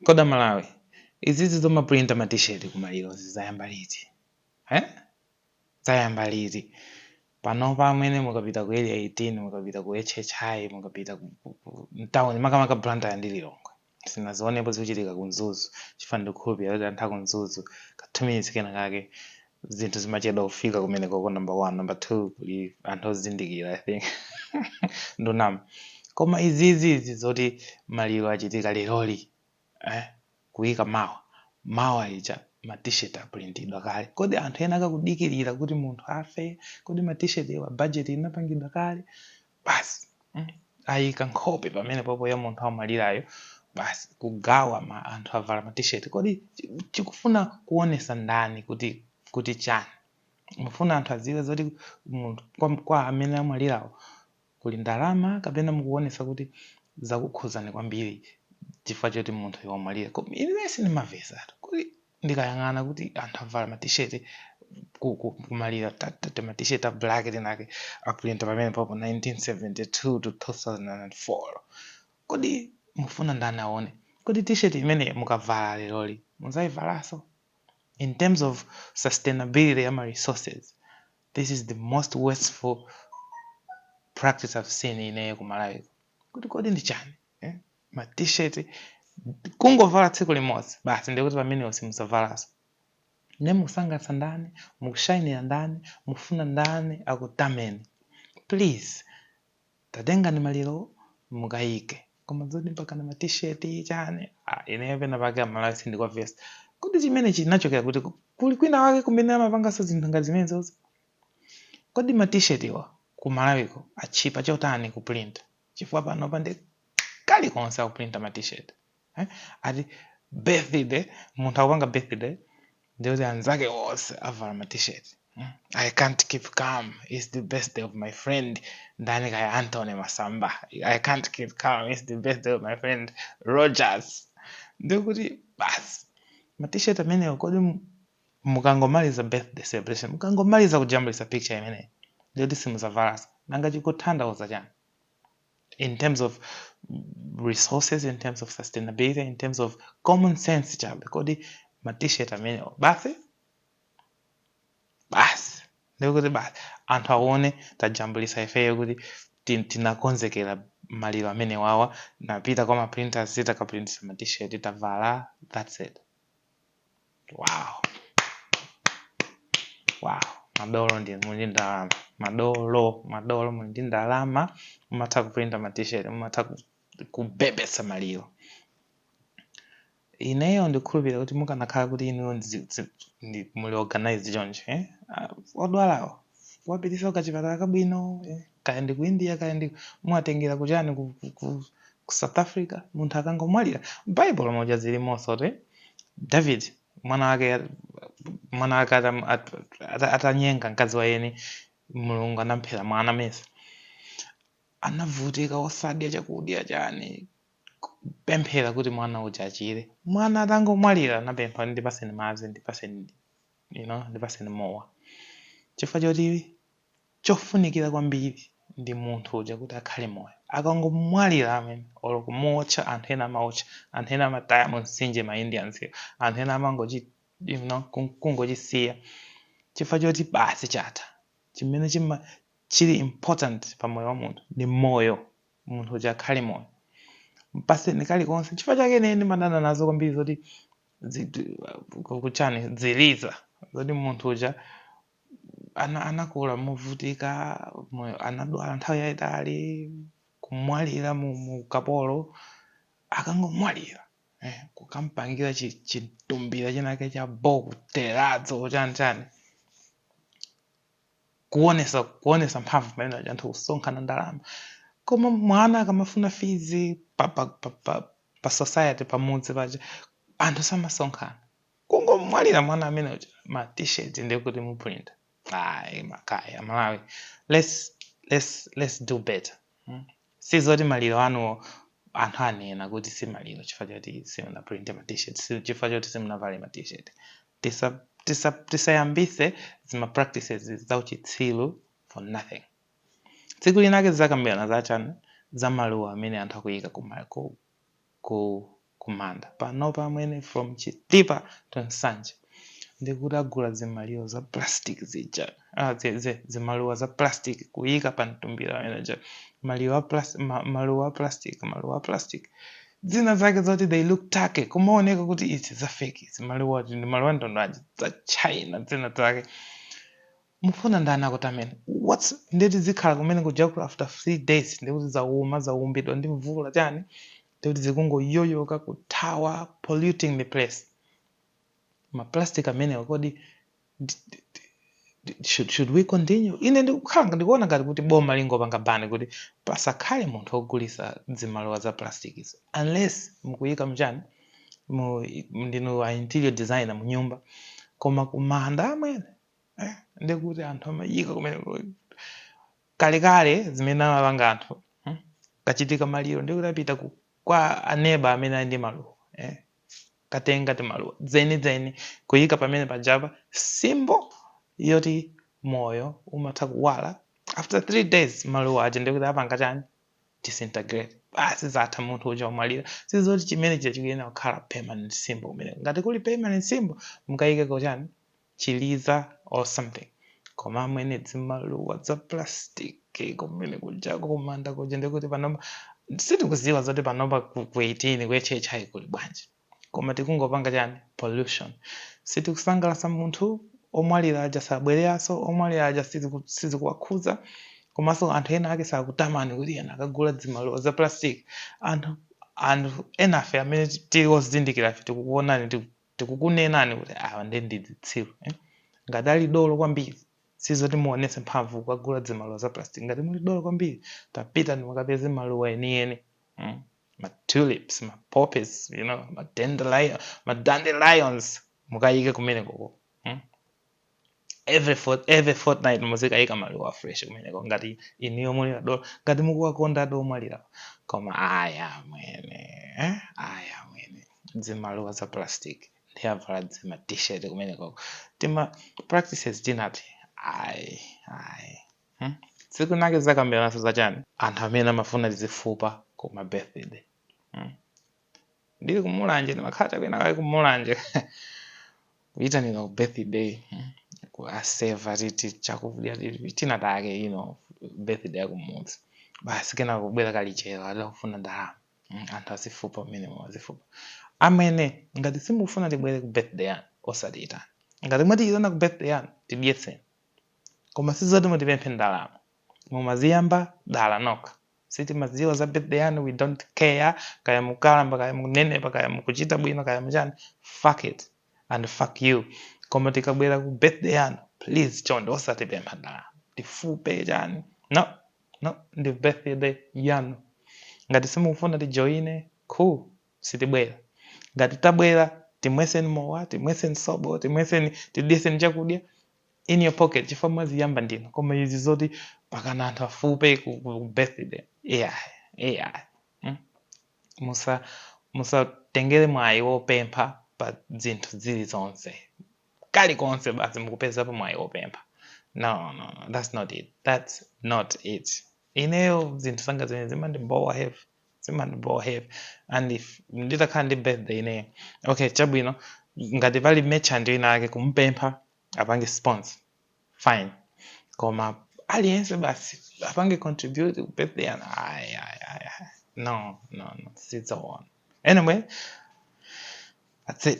kodi amalawi izizi zomaprinta ma t-shirt ku malirozi zayamba liti? eh? zayamba liti? panopa amwene mukapita ku area 18 mukapita ku hhi mukapita ku- ku- ku- mtown makamaka blantyre ndi lilongwe sinazionepo zikuchitika ku mzuzu chifukwa ndikukhulupirira kuti anthu aku mzuzu ka 2 minutes kena kake zinthu zimachedwa kufika kumenekoko number one number two kuli anthu ozindikira i think ndunama koma izizi izi zoti maliro achitika leroli eh? kuyika mawa mawa ija ma t-shirt apulintidwa kale kodi anthu ena akakudikirira kuti munthu afe kodi ma t-shirt wa budget inapangidwa kale basi mm, ayika nkhope pamene popo ya munthu amwalirayo basi kugawa anthu avala ma t-shirt kodi chi- chikufuna kuonesa ndani kuti kuti chani mufuna anthu adziwe zoti munthu kwa, kwa amene amwalirawo kuli ndalama kapena mukuonesa kuti zakukhuzani kwambiri chifukwa choti munthu wamwalira Koma ine sindimavesatu kuti ndikayang'ana kuti anthu avala ma t-shirt ku ku kumalira ti- ti- ti- ma t-shirt a black tinake aprinta pamene popo 1972 to 2004 kodi mufuna ndani aone kodi t-shirt imene mukavala leroli muzayivalaso in terms of sustainability ya ma resources this is the most wasteful practice i've seen ineyo ku malawi kuno kodi ndi chani eh? ma t-shirt kungovala tsiku limodzi basi ndiye kuti amenewo simudzavalaso ne mukusangalatsa ndani mukushainira ndani mufuna ndani akutameni please tatengani malirowo mukayike koma zoti mpaka na ma t-shirt chani ah, ineyo pena pake amalawi sindikuwavesa kodi chimene chinachokera kuti ku- kuli kwina wake kumene amapanganso zinthu ngati zimenezozo kodi ma t-shirt iwa ku malawiko atchipa chotani kuprinta chifukwa panopa ndi kalikonse akuprinta ma t-shirt eh? ati birthday munthu akupanga birthday ndikuti anzake onse avala ma t-shirt hmm? i can't keep calm its the birthday of my friend ndani kaya antony masamba i can't keep calm its the birthday of my friend rogers ndikuti basi ma t-shirt amenewo kodi mukangomaliza birthday celebration mukangomaliza kujambulisa picture imeneyi ndiyoti simuzavalaso nanga chikutanthauza chani in terms of resources in terms of sustainability in terms of common sense chabe kodi ma t-shirt amenewo basi basi ndikuti basi anthu aone tajambulisa ifeyo kuti tin- tinakonzekera maliro amene wawa ndapita kwa maprinters titakaprintisa ma t-shirt tavala that's it wow wow madolo ndi muli ndi ndalama madolo madolo muli ndi ndalama mumatha kuprinta ma t-shirt mumatha ku- kubebesa maliro ineyo ndikhulupirira kuti mukanakhala kuti inuyo ndzi- dzi- ndi- muli organized choncho eh? Ah, odwalawo muwapitisa kuchipatala kabwino eh? kaya ndi ku India kaya ndi mwatengera kuchani ku, ku, ku, ku South Africa munthu akangomwalira Bible moja zilimonso kuti David mwana wake mwana wake atam- at- at- atanyenga mkazi wa eni Mulungu anamphera mwana mesa anavutika osadya chakudya chani pemphera kuti mwana uja achire mwana atangomwalira anapempha ndipaseni madzi ndipaseni you know ndipaseni mowa chifukwa choti chofunikira kwambiri ndi munthu uja kuti akhale moyo. Akangomwalira amwene olo kumuotcha anthu ena amaotcha, anthu ena amataya mumtsinje ma Indians yo, anthu ena amangochi you know kungochisiya chifukwa choti basi chatha. Chimene chima chili important pa moyo wa munthu ndi moyo, munthu uja akhale moyo. Mpaseni kalikonse. Nchifukwa chake ine ndimadana nazo kwambiri zoti zinthu kuchani ziliza zoti munthu uja. ana anakula movutika moyo anadwala nthawi yayitali kumwalira mu mu ukapolo akangomwalira eh, kukampangira chi- chitumbira chinake cha bo ku terrazzo chani chani kuonesa kuonesa mphamvu pamene aja anthu kusonkhana ndalama koma mwana akamafuna fizi pa, pa, pa, pa, pa society pamudzi paja anthu samasonkhana kungomwalira mwana amene uja ma t-shirt ndikuti muprinta ayi makayi amalawi let's, let's, let's do better hmm? si zoti maliro anuwo anthu anena kuti si maliro chifukwa choti simunaprinte ma t-shirt si- chifukwa choti simunavale ma t-shirt Tisa- tisa- tisayambise zima practices zauchitsiru for nothing tsiku linake tizakambirana zachani za maluwa amene anthu akuyika kuma- ku- ku kumanda panopa amwene from chitipa to nsanje ndikuti agula zimaliwo za plastic zija ah, zi, zi, zimaluwa za plastic kuyika pa mtumbira ameneja maliwa a plastic, ma, maluwa a plastic maluwa a plastic dzina zake zoti they look fake kumaoneka kuti izi za fake izi maluwa ndi maluwa ndondoaji za china dzina zake mufuna ndani akutameni nde tizikhala kumene kujako after three days ndekuti zauma zaumbidwa ndi mvula, chani ndekuti zikungoyoyoka kuthawa polluting the place maplastic amenewa kodi d- d- d- d- should, should we continue ine ndikukhala ndikuona ngati kuti boma lingopanga bani kuti pasakhale munthu ogulisa zimaluwa za plastic izo unless mukuyika mchani mu ndinu a interior designer mu nyumba koma kumanda amwene eh, ndi kuti anthu amayika kumene kalekale zimene amapanga anthu hmm? kachitika maliro ndi kuti apita ku- kwa aneba amene ali ndi maluwa eh? katenga timaluwa dzeni dzeni kuyika pamene pajapa symbol yoti moyo umatha kuwala after three days maluwa aja ndikuti apanga chani disintegrate basi zatha munthu uja wamwalira sizoti chimene chija chikuyenera kukhala permanent symbol kumene ngati kuli permanent symbol mukayikeko chani chiliza or something koma amwene zimaluwa za plastic kumene kujako kumanda kuja ndikuti panopa sitikuziwa zoti panopa ku ku 18 ku HHI kuli bwanji koma tikungopanga chani pollution sitikusangalasa munthu omwalira aja sabwereranso omwalira aja siziku- sizikuwakhuza komanso anthu ena ake sakutamani kuti ena akagula zimaluwa za plastic anthu anthu enafe amene tili ozindikirafe tikukuonani tiku- tikukunenani kuti awa nde ndi dzitsiru eh? ngati ali dolo kwambiri sizoti muonetse mphamvu kukagula dzimaluwa za plastic ngati muli dolo kwambiri tapitani mukapeze maluwa enieni mm? ma tulips ma poppies you know ma dandelion ma dandelions mukayike kumenekoko mm? every fortnight muzikayika maluwa a fresh kumeneko ngati inuyo muli adolo ngati mukuwakonda adha omwalira koma ayi amwene eh? ayi amwene dzimaluwa za plastic ndiye avala dzima t-shirt kumeneko tima practices tinati ayi ayi hmm? tsiku linake tizakambiranaso zachani anthu amene amafuna tizifupa ku ma birthday hmm? ndili ku mulanje ndimakhala cha kwinakwake ku mulanje kuyitanira ku birthday mm, kuwaseva titi chakudya titi tina cake you know birthday yakumudzi basi kena kubwera kalichero adha akufuna ndalama Mm, anthu azifupa umenemo azifupa amwene ngati simukufuna tibwere ku birthday yanu osatiyitana ngati mwatiyitana ku birthday yanu tidyetseni koma sizoti mutipemphe ndalama mumaziyamba dala nokha sitimadziwa za birthday yanu we don't care kaya mukalamba kaya munenepa kaya mukuchita bwino kaya mchani fuck it and fuck you koma tikabwera ku birthday yanu please chonde osatipempha ndalama tifupe chani no no ndi birthday yanu ngati simukufuna tijoine cool sitibwera ngati tabwera timweseni mowa timweseni sobo timweseni tidyeseni chakudya in your pocket chifukwa mwaziyamba ndinu koma izi zoti pakhala anthu asupe ku, ku, ku birthday yeah, yeah. Mm? musa musatengere mwayi wopempha pa zinthu zilizonse kalikonse basi mukupezapo mwayi wopempha no, no, no that's not it that's not it ineyo zinthu zanga zimene zimandibowa heavy zimandibowa heavy and if nditakhala ndi birthday ineyo okay chabwino ngati pali merchant ina ake kumpempha apange sponsor fine koma aliyense basi apange contribute ku birthday yanga ayi ayi ayi ayi. no no no sizoona anyway that's it